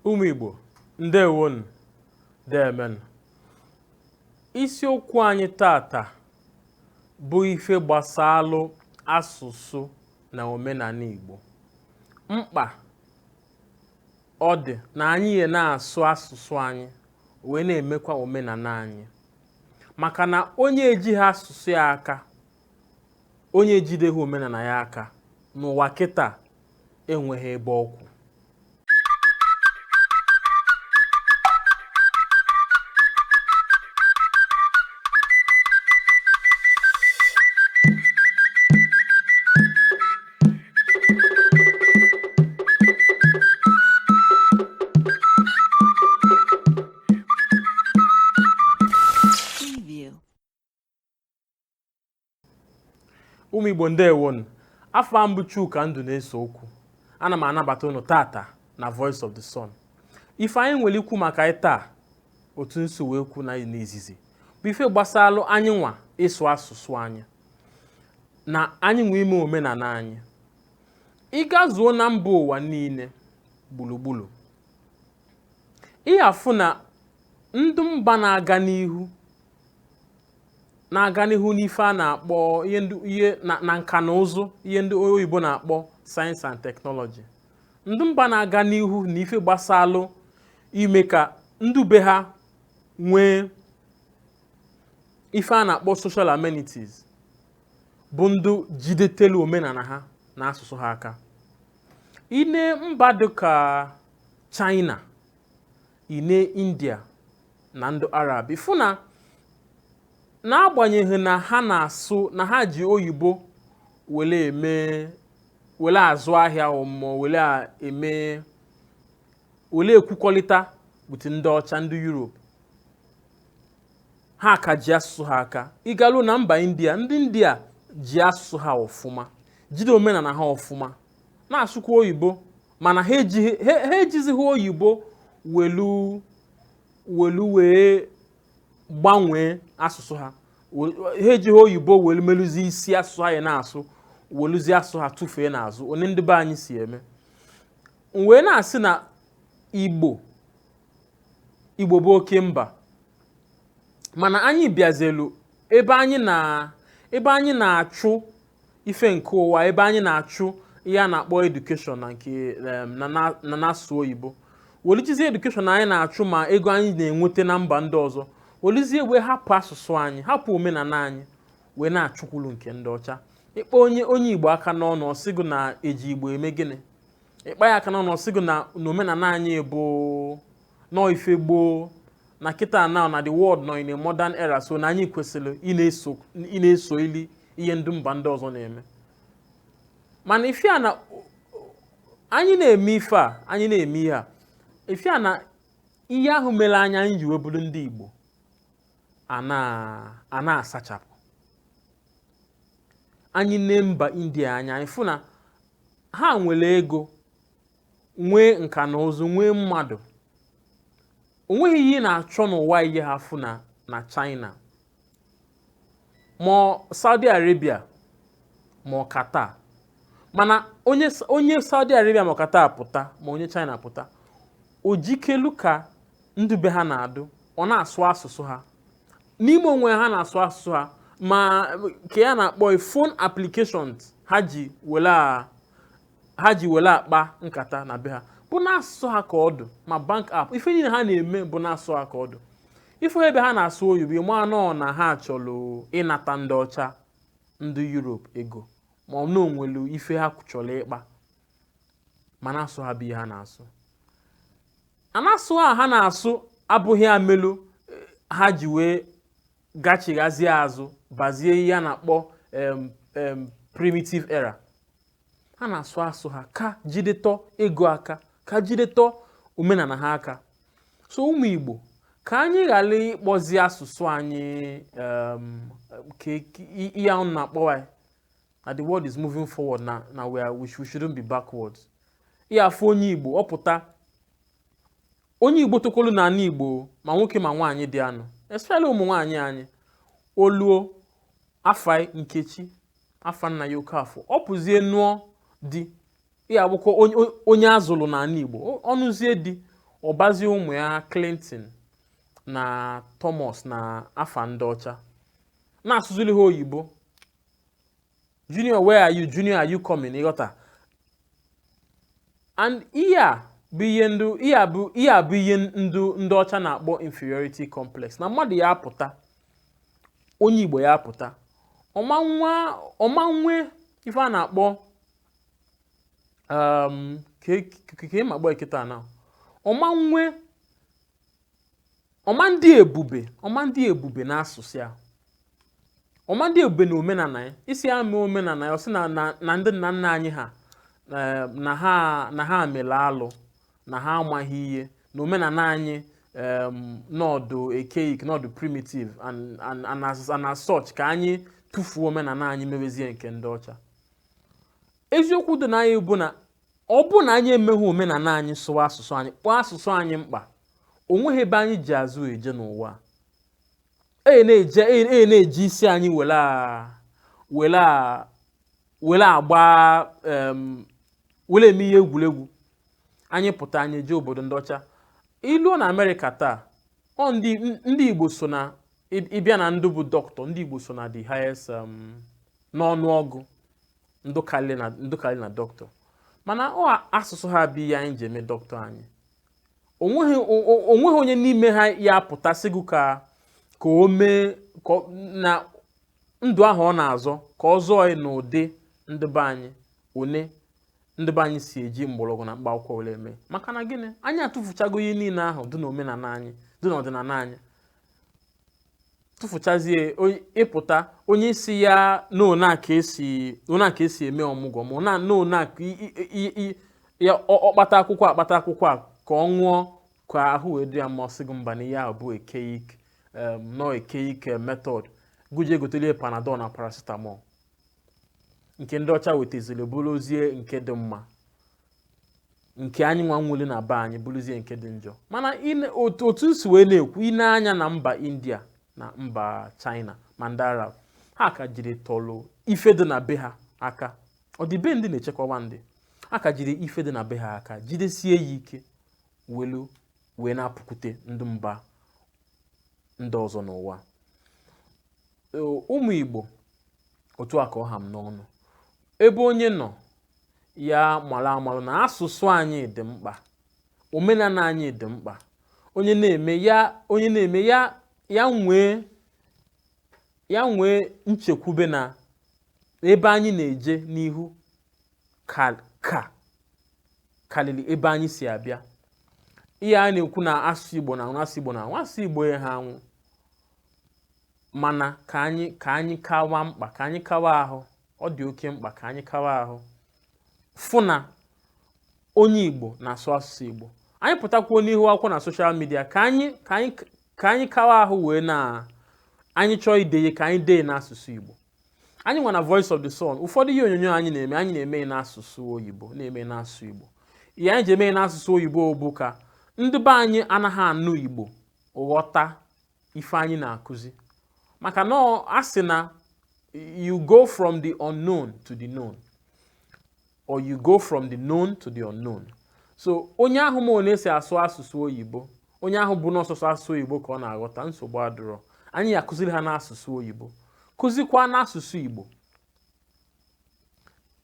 ụmụ Igbo ndewonu deeme nụ isiokwu anyị tata bụ ife gbasalụ asụsụ na omenana Igbo mkpa ọ dị na anyị ya na-asụ asụsụ anyị wee na-emekwa omenana anyị maka na onye ejighị asụsụ ya aka onye ejideghị omenana ya aka n'ụwa kịta enweghị ebe ọ kwụ ụmụ igbo ndewonu afa m bụ chuka nduneseokwu ana m anabata unu tata na voice of the sun ife anyị nwere ikwu maka ya taa otu m si wee kwuo n'izizi bụ ife gbasalụ anyị nwa ịsụ asụsụ anyị na anyị nwa ime omenana anyị ị gazuo na mba ụwa niile gbulugbulu ị ya-afụ na ndị mba na-aga n'ihu na-aga n'ihu n'ife a na-akpọ ihe ndị ihe na na nka na ụzụ ihe ndị oyibo na-akpọ science and technology ndị mba na-aga n'ihu na ife gbasalụ ime ka ndị be ha nwee ife a na-akpọ social amenities bụ ndị jidetelu omenana ha na asụsụ ha aka i nee mba dịka china i nee india na ndị arab ị fụ na n'agbanyeghị na ha na-asụ na ha ji oyibo wele eme wele azụ ahịa mm wele a- eme wele ekwukọlịta with ndị ọcha ndị europe ha ka ji asụsụ ha aka ị garuo na mba india ndị india ji asụsụ ha ọfụma jide omenana ha ọfụma na-asụkwa oyibo mana ha ejighị- ha- ha ejizighị oyibo welu welu wee gbanwee asụsụ ha welu- ha ejighị oyibo welu meluzie isi asụsụ ha ya na-asụ weluzie asụsụ ha tụfee n'azụ otu ndị be anyị si eme m wee na-asị na igbo igbo bụ oke mba mana anyị bịazelu ebe anyị na ebe anyị na-achụ ife nke ụwa ebe anyị na-achụ ihe a na-akpọ education na nke em, na- na- na n'asụsụ oyibo welu jizie education anyị na-achụ ma ego anyị na-enweta na mba ndị ọzọ welizie wee hapụ asụsụ anyị hapụ omenala anyị wee na-achụkwulu nke ndị ọcha ị kpa onye onye igbo aka n'ọnụ ọ sị gị na e ji igbo eme gịnị ị kpa ya aka n'ọnụ ọ sị gị na na omenala anyị bụ na ọ ife gboo na kịta na na the world nọ in a modern era so na anyị kwesịrị ị na-eso ị na-eso ili ihe ndị mba ndị ọzọ na-eme mana ife a na anyị na-eme ife a anyị na-eme ihe a ife a na ihe ahụ mere anyị anyị ji wee bụrụ ndị Igbo a na- a na-asachapụ anyị nee mba India anya anyị fụ na ha nwere ego nwee nka na ụzụ nwee mmadụ o nweghị ihe ị na-achọ n'ụwa i jeghị afụ na na China ma ọ Saudi Arabia ma ọ Qatar mana onye onye Saudi Arabia ma Qatar pụta ma onye China pụta o jikelu ka ndị be ha na-adụ ọ na-asụ asụsụ ha n'ime onwe ha na-asụ asụsụ ha ma ka ihe a na-akpọ phone applications ha ji wela ha ji were akpa nkata na be ha bụ n'asụ ha ka ọ dụ ma bank app ife niile ha na-eme bụ n'asụ ha ka ọ dụ ị fụ ebe ha na-asụ oyibo ị ma na ọ na ha chọrọ ịnata ndị ọcha ndị Europe ego ma ọ na o nwelu ife ha chọrọ ịkpa mana asụ ha bụ ihe ha na-asụ and asụ ha ha na-asụ abụghị ihe melu eh, ha ji wee gachighazie azụ bazie ihe a na-akpọ em, em, primitive era ha na-asụ asụ ha ka jidetọ ego aka ka jidetọ omenala ha aka so ụmụ Igbo ka anyị ghara ịkpọzi asụsụ anyị um, ka ihe ahụ na-akpọwa ya na the world is moving forward na na we are we shouldn't be backward ị ya-afụ onye Igbo ọ pụta onye Igbo tokolu na ala Igbo ma nwoke ma nwaanyị dị anụ especially ụmụ nwaanyị anyị o luo afa ya Nkechi afa nna ya Okafọ ọ pụzie nụọ di ya abụkwa onye- onye- onye a zụlụ n'ala Igbo Ọ- ọ nụzie di ọ bazie ụmụ ya Clinton na Thomas na afa ndị ọcha na-asụziri ha oyibo junior where are you junior are you coming ịghọta and ihe a bụ ihe ndị ihe a bụ ihe a bụ ihe ndị ndị ọcha na-akpọ inferiority complex na mmadụ ya-apụta onye igbo ya pụta ọ ma nwe ife a na-akpọ um, ka ịma e, e gbaa kịta na ọ ma nwe ọ ma ndị ebube ọ ma ndị ebube na asụsụ ya ọ ma ndị ebube na omenala ya ị sị ya mee omenala ya ọ sị na ndị nna nna anyị ha eh, na ha mere alụ na ha amaghị ihe na omenala anyị um, na ọ dị archaic na ọ dị primitive and, and, and, as, and as such ka anyị tụfuo omenala anyị mewezie nke ndị ọcha eziokwu dị na ya bụ na ọ bụ na anyị emeghị omenala anyị sụwa asụsụ anyị kpọọ asụsụ anyị mkpa o nweghị ebe anyị ji azụ eje n'ụwa a. e na-eje e na-eji isi anyị were a- were a- were agba em, were eme ihe egwuregwu anyị pụta anyị jee obodo ndị ọcha i luo na amerịka taa ọ ndị ndị igbo so na ị- ị bịa na ndị bụ doctor ndị igbo so na the highest um, n'ọnụọgụ ndị karịrị na ndị karịrị na doctor mana ọ asụsụ ha bụ ihe anyị ji eme doctor anyị o nweghị o- o- o nweghị onye n'ime ha ya-apụta sị gị ka ka o mee ka ọ- na ndụ ahụ ọ na-azọ ka ọ zọọ ya n'ụdị ndị be anyị one ndị be anyị si eji mgbọrọgwụ na mkpa akwụkwọ were eme maka na gịnị anyị atụfuchago ihe niile ahụ dị n'omenala anyị dị n'ọdịnala anyị tụfuchazie ị pụta onye ị sị ya n'one a ka e si eme ọmụgwọ ma na n'one a ka ya ọkpata akwụkwọ akpata akwụkwọ a ka ọ ṅụọ ka ahụ wee dị ya mma ọ sị gị mba na ihe ahụ bụ archaic na ọ archaic method gị jee gotelu ya panadol na paracetamol nke ndị ọcha wetaziri bụrụzie nke dị mma nke anyị nwa nwere na be anyị bụrụzie nke dị njọ mana i ne- otu otu m si wee na-ekwu i nee anya na mba india na mba china ma ndị arab ha ka jiritụlụ ife dị na be ha aka ọdịbendị na-echekwawa ndị ha ka jiri ife dị na be ha aka jidesie ya ike welu wee na-apụkwute ndị mba ndị ọzọ n'ụwa ụmụ Igbo otu a ka ọ ha m n'ọnụ ebe onye nọ ya mara marụ na asụsụ anyị dị mkpa omenala anyị dị mkpa onye na-eme ya onye na-eme ya ya nwee ya nwee nchekwube na ebe anyị na-eje n'ihu ka ka karịrị ebe anyị si abịa ihe a na-ekwu na asụsụ Igbo na-anwụ asụsụ Igbo na-anwụ asụsụ Igbo ya ha anwụ mana ka anyị ka anyị kawa mkpa ka anyị kawa ahụ ọ dị oke mkpa ka anyị kawa ahụ fụ na onye Igbo na-asụ asụsụ Igbo anyị pụtakwuo n'ihu akwụkwọ na social media ka anyị ka anyị ka anyị kawa ahụ wee na anyị chọọ ide ihe ka anyị dee n'asụsụ Igbo anyị nwa na Voice of the Sun ụfọdụ ihe onyonyo anyị na-eme anyị na-eme n'asụsụ oyibo na-eme n'asụsụ Igbo ihe anyị ji eme n'asụsụ oyibo bụ ka ndị be anyị anaghị anụ Igbo ghọta ife anyị na-akụzi maka na ọ- a sị na you go from the unknown to the known or you go from the known to the unknown so onye ahụ ma ono e si asụ asụsụ oyibo onye ahụ bụ na ọ sọsọ asụsụ oyibo ka ọ na-aghọta nsogbu adịrọ anyị ya-akụziri ha n'asụsụ oyibo kụzikwa n'asụsụ igbo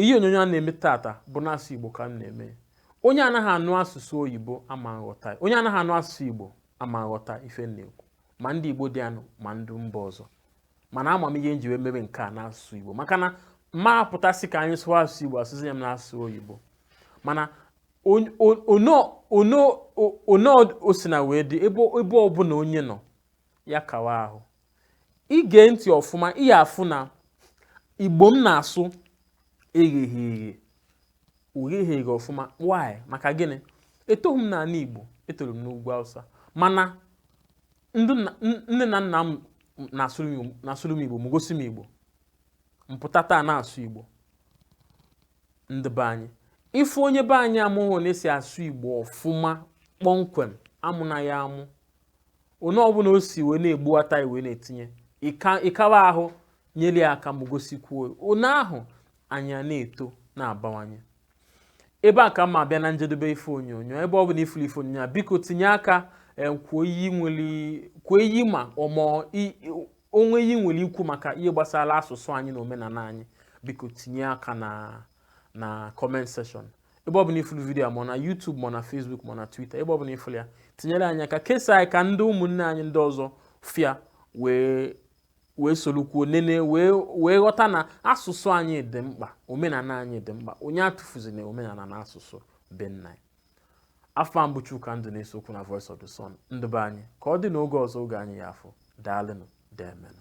ihe onyonyo a na-eme tata bụ n'asụ Igbo ka m na-eme onye anaghị anụ asụsụ oyibo ama aghọta onye anaghị anụ asụsụ Igbo ama aghọta ife m na-ekwu ma ndị Igbo dị anụ ma ndị mba ọzọ mana ama m ihe m ji wee mebe nke a n'asụsụ Igbo maka na m ma apụta sị ka anyị sụọ asụsụ Igbo sụọ ya n'asụsụ oyibo mana ono osina wee dị ebe ọbụla onye nọ ya kawa ahụ i gee ntị ọfụma ị ya-afụ na igbo m na-asụ egheghị eghe o gheghị eghe ọfụma why maka gịnị etoghị m n'ala igbo etoro m n'ugwu awụsa mana nne na nna m na-asụrụ m igbo ma gosi m igbo m pụta taa na-asụ igbo ndị be anyị ị fụ onye be anyị amaghị ono e si asụ igbo ọfụma kpọmkwem amụna ya amụ ono ọbụla o si wee na-egbuwata ya wee na-etinye ị ka- ị kawa ahụ nyere ya aka ma gosikwuo ya. onye ahụ anyị a na-eto na-abawanye ebe a ka m ya-abịa na njedebe ife onyonyo ebe ọ bụla ị fụrụ ife onyonyo a biko tinye aka eh, kwuo ihe i nwere kwuo ihe ma ọmọ o nwee ihe i nwere ikwu maka ihe gbasara asụsụ anyị na omenala anyị biko tinye aka na na comment section ebe ọbụla ị fụlụ video a ma na YouTube ma na Facebook ma na Twitter ebe ọbụla ị fụlụ ya tinyere anyị aka kesaa ya ka ndị ụmụnne anyị ndị ọzọ fụ ya wee wee solukwuo nene wee wee ghọta na asụsụ anyị dị mkpa omenala anyị dị mkpa onye atụfuzina omenala na asụsụ be nna ya afa m bụ Chuka Nduneseokwu na Voice of the Sun ndị be anyị ka ọ dị n'oge ọzọ oge anyị ya afọ daalụnụ deemenụ